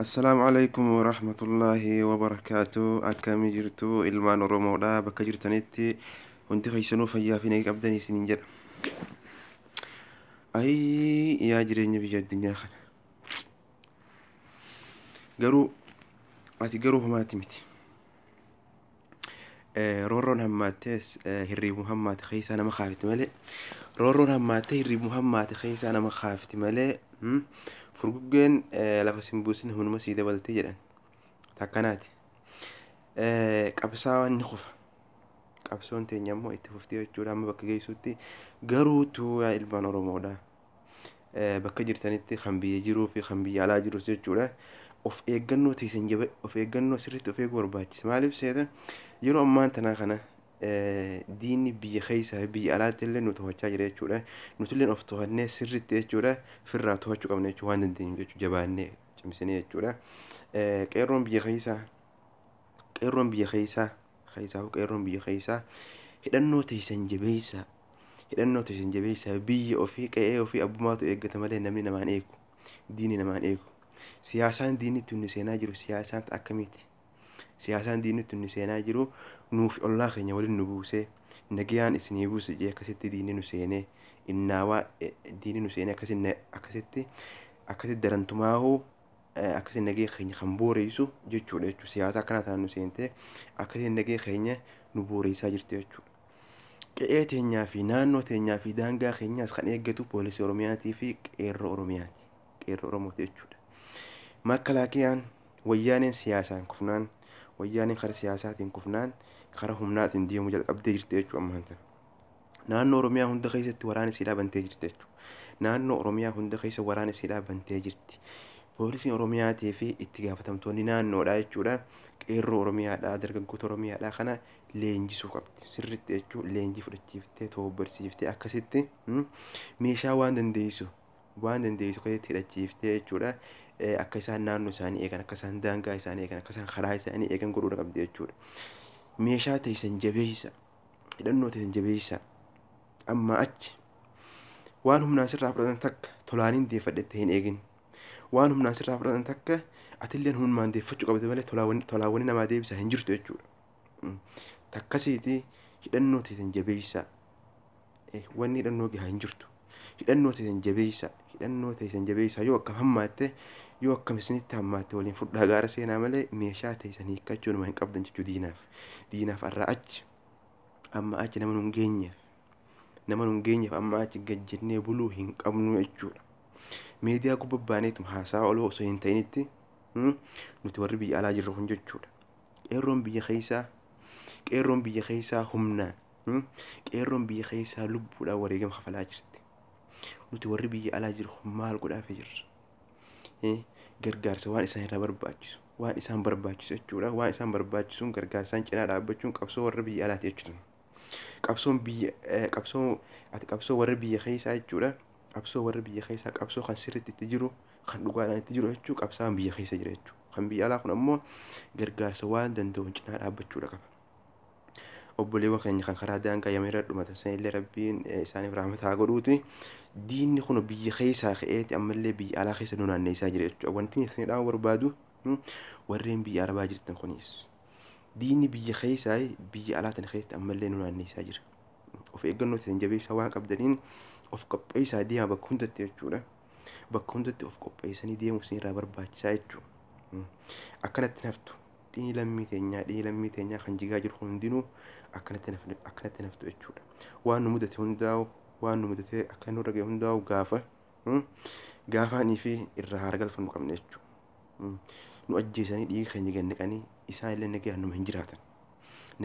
Assalaamu alaikum warahmatullaahi wabarakaatu akkamii jirtu ilmaan oromoodha bakka jirtanitti hundi keessanuu fayyaa fi nagaa qabdan isiniin jedha ayii yaa jireenya biyya addunyaa kana garuu ati garuu homaati miti Roorroon hammaattees hirriibuma hammaate keessaa nama kaafti malee roorroon hammaattee hirriibuma hammaate keessaa nama kaafti malee furguggeen lafa sin buusin humnuma sii dabaltee jedhan takkanaati. Qabsaawaan ni kufa. Qabsoon teenya immoo itti fufti jechuudha amma bakka geessuutti garuu tuuyaa ilmaan Oromoodha. bakka jirtanitti kan biyya jiruu fi kan biyya alaa jirus jechuudha. Of eeggannoo teessan jaba of eeggannoo sirriitti of eeguu barbaachisa. Maaliif seeta yeroo ammaan tanaa kana diinni biyya keessaa fi biyya alaatti illee nu to'achaa jira jechuudha. Nuti illee of to'annee sirriitti jechuudha firraa to'achuu qabna jechuudha waan dandeenyu jechuudha jabaannee cimsinee jechuudha. Qeerroon biyya keessaa qeerroon biyya keessaa keessaa qeerroon biyya keessaa hidhannoo teessan jabeessaa hidhannoo teessan jabeessaa biyya ofii qe'ee ofii abbumaatu eeggata malee namni namaan eegu diini namaan eegu siyaasaan diinitti inni seenaa jiru siyaasaan akkamiiti siyaasaan diinitti inni seenaa jiru nuuf ollaa keenya waliin nu buusee nagayaan isinii buuse jee akkasitti diinni nu seenee innaawaa diinni nu seenee akkasitti akkasitti darantumaahuu akkasiin nagee keenya kan booreessu jechuudha jechuudha. Siyaasa akkanaa tanaan nu seentee akkasiin nagee keenya nu booreessaa jirti jechuudha. Qe'ee teenyaa fi naannoo teenyaa fi daangaa keenyaas kan eeggatu poolisii Oromiyaatii fi qeerroo Oromiyaati. Qeerroo Oromooti jechuudha. Makkalaakiyaan wayyaaneen siyaasaan kufnaan wayyaaneen kara siyaasaatiin kufnaan kara humnaatiin deemuu jalqabdee jirti jechuudha ammaan tana. Naannoo Oromiyaa hunda keessatti waraana isiidhaa bantee jirti jechuudha. Naannoo Oromiyaa hunda keessa waraana isiidhaa bantee jirti. Poolisiin Oromiyaatii fi itti gaafatamtoonni naannoodhaa jechuudha. Qeerroo Oromiyaadhaa, dargaggoota Oromiyaadhaa kana leenjisuu qabdi. Sirriitti jechuun leenjii fudhachiiftee, toobbarsiiftee akkasitti mm, meeshaa waan dandeessu waan dandeessu keessatti hidhachiiftee jechuudha. Eh, Akka isaan naannoo isaanii eegan, akka isaan daangaa isaanii eegan, akka isaan karaa isaanii eegan godhuudha qabdi jechuudha. Meeshaa teessan jabeessa. hidhannoo teessan jabeessaa ammaa achi waan humnaan sirraa fudhatan takka tolaaniin deeffadhette hin eegin waan humnaan sirraa fudhatan takka atilleen humnaan deeffachuu qabde malee tolaawwan namaa deebisaa hin jirtu jechuudha takkasiiti hidhannoo teessan jabeessaa wanni hidhannoo gahaa hin jirtu hidhannoo teessan jabeessa hidhannoo teessan jabeessa yoo akkam hammaatte yoo akkam isinitti hammaatte waliin fudhaa gaara seenaa malee meeshaa teessan hiikkachuu nama hin qabdan jechuu diinaaf diinaaf arraa achi amma achi nama nun geenyeef nama nun geenyeef amma achi gad jennee buluu hin qabnu jechuudha. Miidiyaa gubba baaneetum haasaa oloo osoo hin ta'initti nuti warri biyya alaa jirru kun jechuudha. Qeerroon biyya keessaa qeerroon biyya keessaa humnaan Hmm? Qeerroon biyya keessaa lubbuudhaan wareegama kafalaa jirti. Nuti warri biyya alaa jiru kun maal godhaafii jirra? Eh, Gargaarsa waan isaan irraa barbaachisu, waan isaan barbaachisu jechuudha. Waan isaan barbaachisuun gargaarsaan cinaa dhaabbachuun qabsoo warra biyya alaati jechuudha. Qabsoon biyya, eh, qabsoo, ati qabsoo warra biyya keessaa jechuudha. Qabsoo warra biyya keessaa qabsoo kan sirriitti itti jiru, kan dhugaadhaan itti jiru jechuudha. Qabsaan biyya keessa jira jechuudha. Kan biyya alaa kun ammoo gargaarsa waan danda'uun cinaa dhaabbachuudha qaba. obboleewwan keenya kan karaa daangaa yaman irra dhumatan sanillee rabbiin eh, isaaniif rahmata haa godhuuti diinni kun biyya keessaa ka'eeti ammallee biyya alaa keessa nu naanneessaa jira jechuudha wanti isin dhaama barbaadu hmm, warreen biyya arabaa jirtan kunis diinni biyya keessaa biyya alaa tana keessatti ammallee nu naanneessaa jira of eeggannoo isin jabeessaa waan qabdaniin of qopheessaa deemaa bakka hundatti jechuudha bakka hundatti of qopheessanii deemuu isin irraa barbaachisaa jechuudha Hmm. akkanatti hin haftu dhini lammii teenyaa dhini lammii teenyaa kan jigaa jiru hundinuu akkanatti naf akkanatti naf ta'u jechuudha waan nu mudate hundaa'u waan nu mudate akka nurra ga'e hundaa'u gaafa mm, gaafaanii fi irraa haara galfannu qabna jechuudha Mm. nu ajjeesanii dhiiga keenya gad naqanii isaan illee nagaan numa hin jiraatan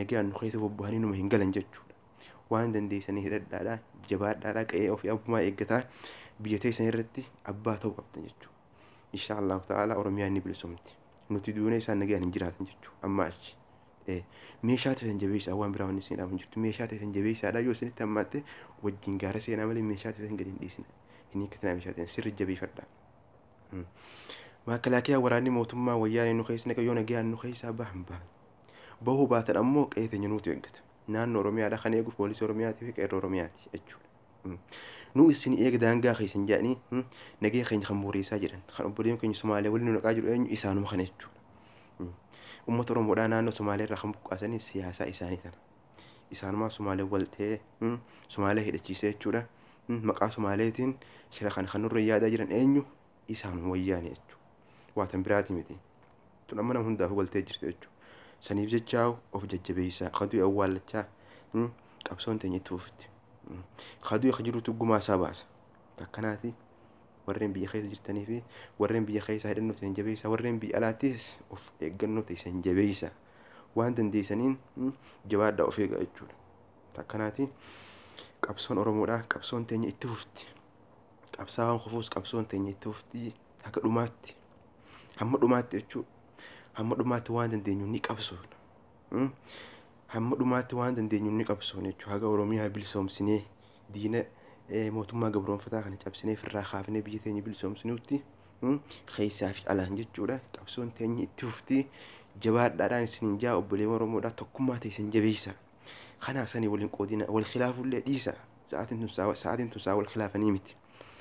nagaan nu keessa bobba'anii numa hin galan jechuudha waan dandeessanii hidhadhaadhaa jabaadhaadhaa qe'ee ofii abbumaa eeggataa biyya teessan irratti abbaa ta'uu qabdan jechuudha insha Allah ta'ala Oromiyaa ni bilisomti nuti duunee isaan nagaan hin jiraatan jechuudha amma achi meeshaa ta'e jabeessaa waan biraa wanni isin dhaaban jirtu meeshaa ta'e jabeessaadha yoo isinitti hammaatte wajjin gaara seenaa malee meeshaa ta'e gadi hin dhiisina hin hiikkatina meeshaa ta'e sirri jabeeffadha. Maakalaakiyaa waraanni mootummaa wayyaanee nu keessa naqa yoo nagaan nu keessaa bahan bahan bahuu baatan ammoo qe'ee teenya nuutu eeggata naannoo Oromiyaadha kan eegu poolisii Oromiyaatii fi qeerroo Oromiyaati jechuudha. nu isin eega daangaa keessan jedhanii nagee keenya kan booreessaa jiran kan obboleen keenya Somaalee waliin nu naqaa jiru eenyu isaanuma kana jechuudha. Uummata Oromoodhaa naannoo Somaalee irraa kan buqqaasanii siyaasaa isaanii tana. Isaanumaa Somaalee wal ta'ee Somaalee hidhachiisee jechuudha. Maqaa Somaaleetiin shira kana kan nurra yaadaa jiran eenyu isaan wayyaane jechu waatan biraati miti tun amma nama hundaafuu galtee jirti jechu saniif jechaa of jajjabeessaa kaduu awwaallachaa mm, qabsoon teenya itti fufti Mm. kaduu ka jirutu gumaa isaa baasa takkanaati warreen biyya keessa jirtanii fi warreen biyya keessaa hidhannoo teessan jabeessaa warreen biyya alaattis of eeggannoo teessan jabeessaa waan dandeessaniin mm, jabaadhaa of eegaa jechuudha takkanaati qabsoon oromoodha qabsoon teenya itti fufti Qabsaawaan kufuus qabsoon teenya itti fufti haga dhumaatti. Hamma dhumaatti jechuun hamma dhumaatti waan dandeenyu ni qabsoona. Hmm? Hamma dhumaatti waan dandeenyu ni qabsoona jechuudha. Haga Oromiyaa bilisoomsinee diina eh, mootummaa gabroonfataa kana cabsinee firraa kaafnee biyya teenya bilisoomsinuutti hmm? keessaa fi alaan jechuudha. Qabsoon teenya itti fufti jabaadhaadhaan isin hin jaa obboleewwan Oromoodhaa tokkummaa teessan jabeessaa. Kanaa sanii waliin qoodina wal khilaafullee dhiisa. Sa'aatiin tun sa'a sa'aatiin tun sa'a wal khilaafanii miti.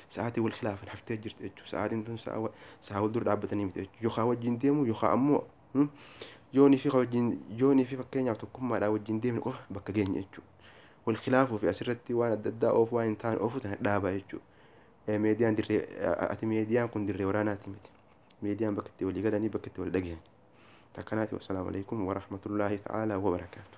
Sa'aatii wal khilaafan haftee jirti jechuudha. Sa'aatiin tun sa'a wa- sa'a wal dura dhaabbatanii miti jechuudha. Yookaan wajjin deemu yookaan ammoo hmm, yoonii fi ka wajjin yoonii fi fakkeenyaaf tokkummaadhaan wajjin deemne qofa bakka geenya jechuudha. Wal khilaafuu fi asirratti waan adda addaa oofu waan hin taane oofu tana dhaabaa jechuudha. Eh, Meediyaan dirree eh, ati meediyaan kun dirree waraanaati miti. Meediyaan bakka itti walii galanii bakka itti wal dhagahan. Takkanaati wassalaamu alaikum warahmatullaahi ta'aalaa wabarakaatu.